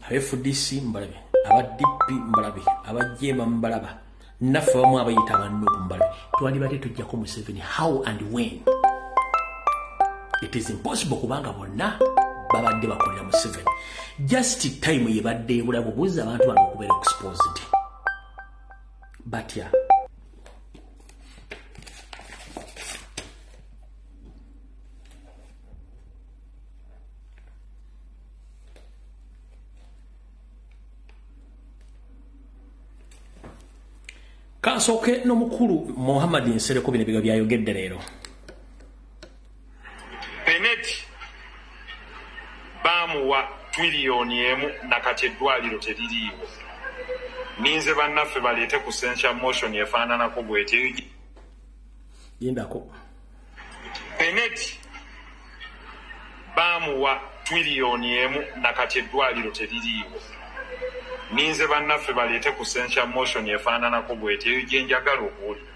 fdc mbalabe aba dp mbalabe abajema mbalaba naffe bamu abayita abannuku mbalabe twalibadde tujjako museveni how and when it is impossible kubanga bonna babadde bakolera museveni just time yebadde ebula bubuuza abantu bano okubeera exposed batya kansooke n'omukulu muhammad nsereko bino biga byayogedde leero benet baamuwa twiliyoni emu nakati eddwaliro teririiwo ninze bannaffe baleete ku sentia motion efaananako bwetyo yindako Peneti baamuwa twiriyoni emu nakati eddwaliro teririiwo. Ninze bannaffe baleete ku sentia motion efaananako bweti eyo gye njagala okuwulira.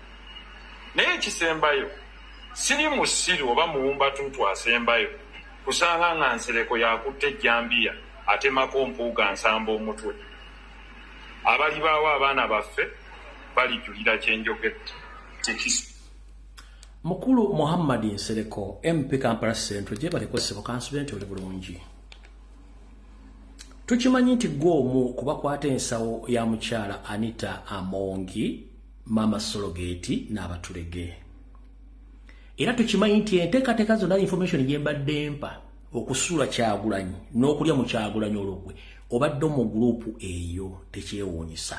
Naye ekisembayo siri musiru oba muwumbatuutu asembayo kusanga nga Nsereko yakutte ejjambiya atemako Mpuuga Nsamba omutwe. Abalibaawo abaana baffe balijulira kye njogedde. Mukulu Muhammad Nsereko MP Kampala Central gyebaleko ssebo kansubire nti oli bulungi tukimanyi nti gwe omu kubakwata ensawo ya mukyala Anita Amongi maama Sologeti n'abatulege era tukimanyi nti enteekateeka zonna information gye mbadde mpa okusuula kyagulanyi n'okulya mu kyagulanyi olugwe obadde mu guruupu eyo tekyewuunyisa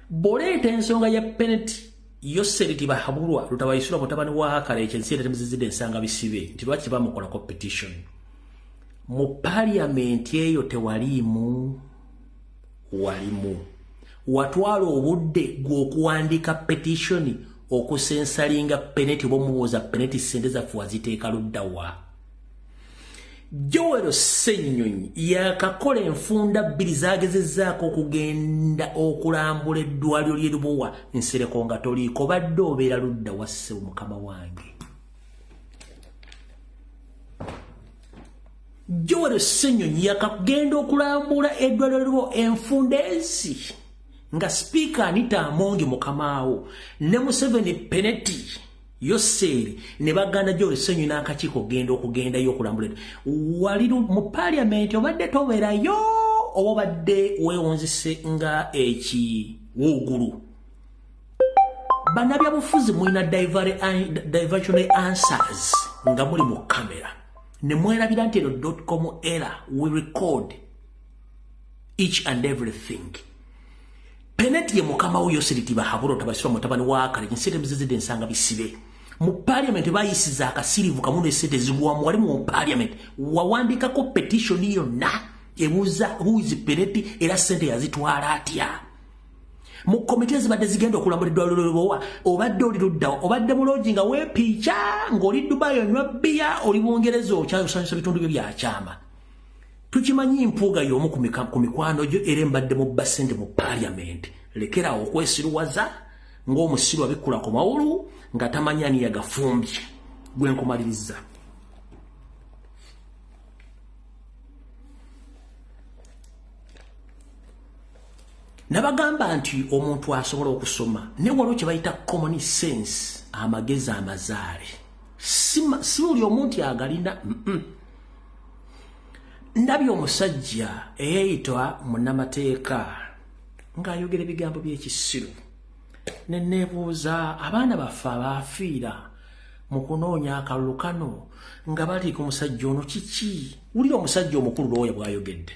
boleeta ensonga ya peneti yo seriti bahabulwa lutabayisula mutabani wa hakala ekyo ensi era temuzizidde ensanga bisibe nti lwaki tebamukola competition mu parliament eyo tewaliimu walimu watwala obudde gw'okuwandiika petition okusensalinga peneti oba omubuuza peneti sente zaffe waziteeka luddawa jowero ssenyonyi yakakola enfunda bbiri zagezezaako okugenda okulambula eddwaliro lyerubowa nsereko nga toliiko badde obeera ludda wasse mukama wange jowero ssenyonyi yakagenda okulambula eddwaliro lyerubo enfunda ensi nga sipiika anita amongi mukamaawo ne museveni peneti yoseeri ne baganda gyo olusenyu n'akakiiko okugenda okugendayo okulambula wali mu paliamenti obadde tobeerayo oba obadde weewunzise nga ekiwuugulu banabyabufuzi mulina diversionary answers nga muli mu kamera ne mwerabira nti eno dotcom era we record each and everything Peneti ye mukama wo Yoseriti Bahaburo tabasirwa mutabani wa Kaleji nsente muzizidde nsanga bisibe mu parliament bayisiza akasirivu kamu ne sente zigwamu wali mu parliament wawandikako petition yonna ebuuza who is Peneti era sente yazitwala atya mu komite ezibadde zigenda okulambula eddwaliro lyobowa obadde oli luddawa obadde muloogi nga weepiica ng'oli dubayi onywa bbiya oli bungereza okyayosanyusa bitundu byo byakyama tukimanyi mpuuga y'omu ku mikwano gyo era embadde mu bba ssente mu paaliyamenti lekeraawo okwesiruwaza ng'omusiru abikkula ku mawulu nga tamanyi ani yagafumbye gwe nkumaliriza nabagamba nti omuntu asobola okusoma ne waliwo kye bayita common sense amagezi amazaale si buli omuntu agalina mm -mm. ndabye omusajja eyeyitwa munamateeka ng'ayogera ebigambo by'ekisiru ne neebuuza abaana baffe abaafiira mu kunoonya akalulu kano nga baliika omusajja ono kiki wulira omusajja omukulu looya bw'ayogedde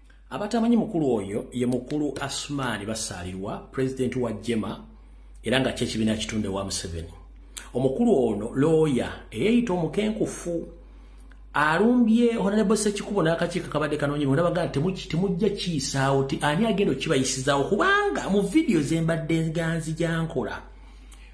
abatamanyi mukulu oyo ye mukulu asmaani basaalirwa pulezidenti wa jema era nga kyekibiina kitunde wa museveni omukulu ono looya eyeeyita omukenkufu alumbye honalebo sekikubo n'akakiiko kabadde kanoonyebwa nabaga nti temujja kiyisaawo ti ani agenda okukibayisizaawo kubanga mu vidiyo zembadde nganzi gyankola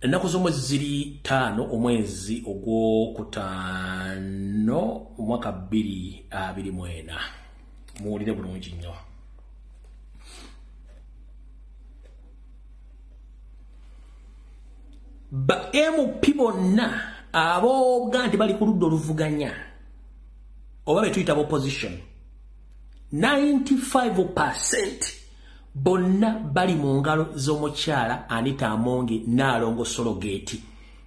ennaku z'omwezi ziri ttaano omwezi ogwokutaano omwaka bbiri abiri mu ena muwulire bulungi nnyo ba mp bonna abooga nti bali ku ludda oluvuganya oba betuyita ba opposition 95 percent bonna bali mu ngalo z'omukyala anita amongi naalongo sologeeti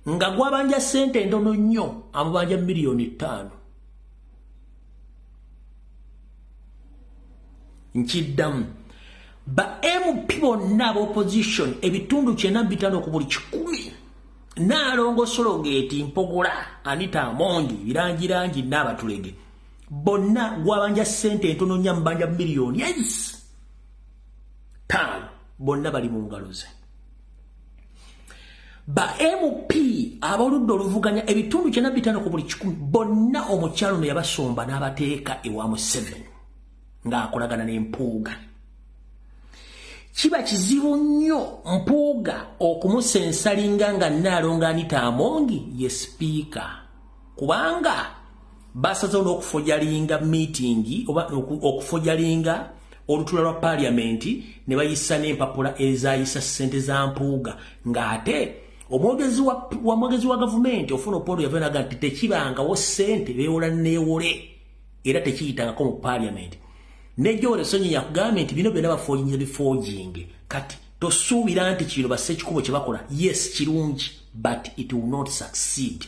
nga gwabanja ssente endono nnyo amubanja miliyoni ttaano nkiddamu ba mp bonna aba opposition ebitundu kyena bitano ku buli kikumi naalongo sologeeti mpogola anita amongi birangirangi naabatulege bonna gwabanja sente entono nya mbanja million yes taano bonna bali mu ngalo ze ba mp aboludde oluvuganya ebitundu kyena bitano ku buli kikumi bonna omukyalo no yabasomba n'abateeka ewa museveni ng'akolagana n'empuuga kiba kizibu nnyo mpuuga okumusensalinga nga nnaalonga anita amongi ye sipiika kubanga basazewo n'okufojalinga miitingi oba okufojalinga olutula lwa paaliyamenti ne bayisa n'empapula ezayisa ssente za mpuuga ng'ate omwogezi wamwogezi wa gavumenti ofuna opolo yava naga nti tekibangawo ssente beewola neewole era tekiyitangako mu paaliyamenti nejjo olesonyi yakugambye nti bino byona bafoojinze bifooginge kati tosuubira nti kino basekikubo kye bakola yes kirungi but it will not succeed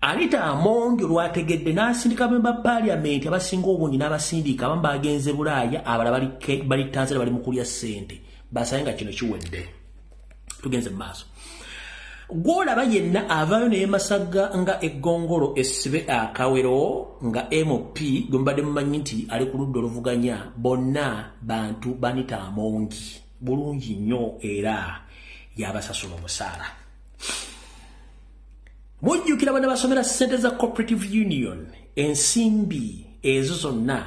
anita amongi olwategedde n'asindika bemba paliamenti abasinga obungi n'abasindiika abamu bagenze bulaaya abala bali tanzania bali mukulya ssente basaye nga kino kiwedde tugenze mu maaso gwolaba yenna avaayo naye masagga nga eggongolo esibe akawero nga mp gwe mubadde mumanyi nti ali ku ludda oluvuganya bonna bantu banita amongi bulungi nnyo era yabasasula omusaala mujjukira bana basomera ssente za cooperative union ensimbi ezo zonna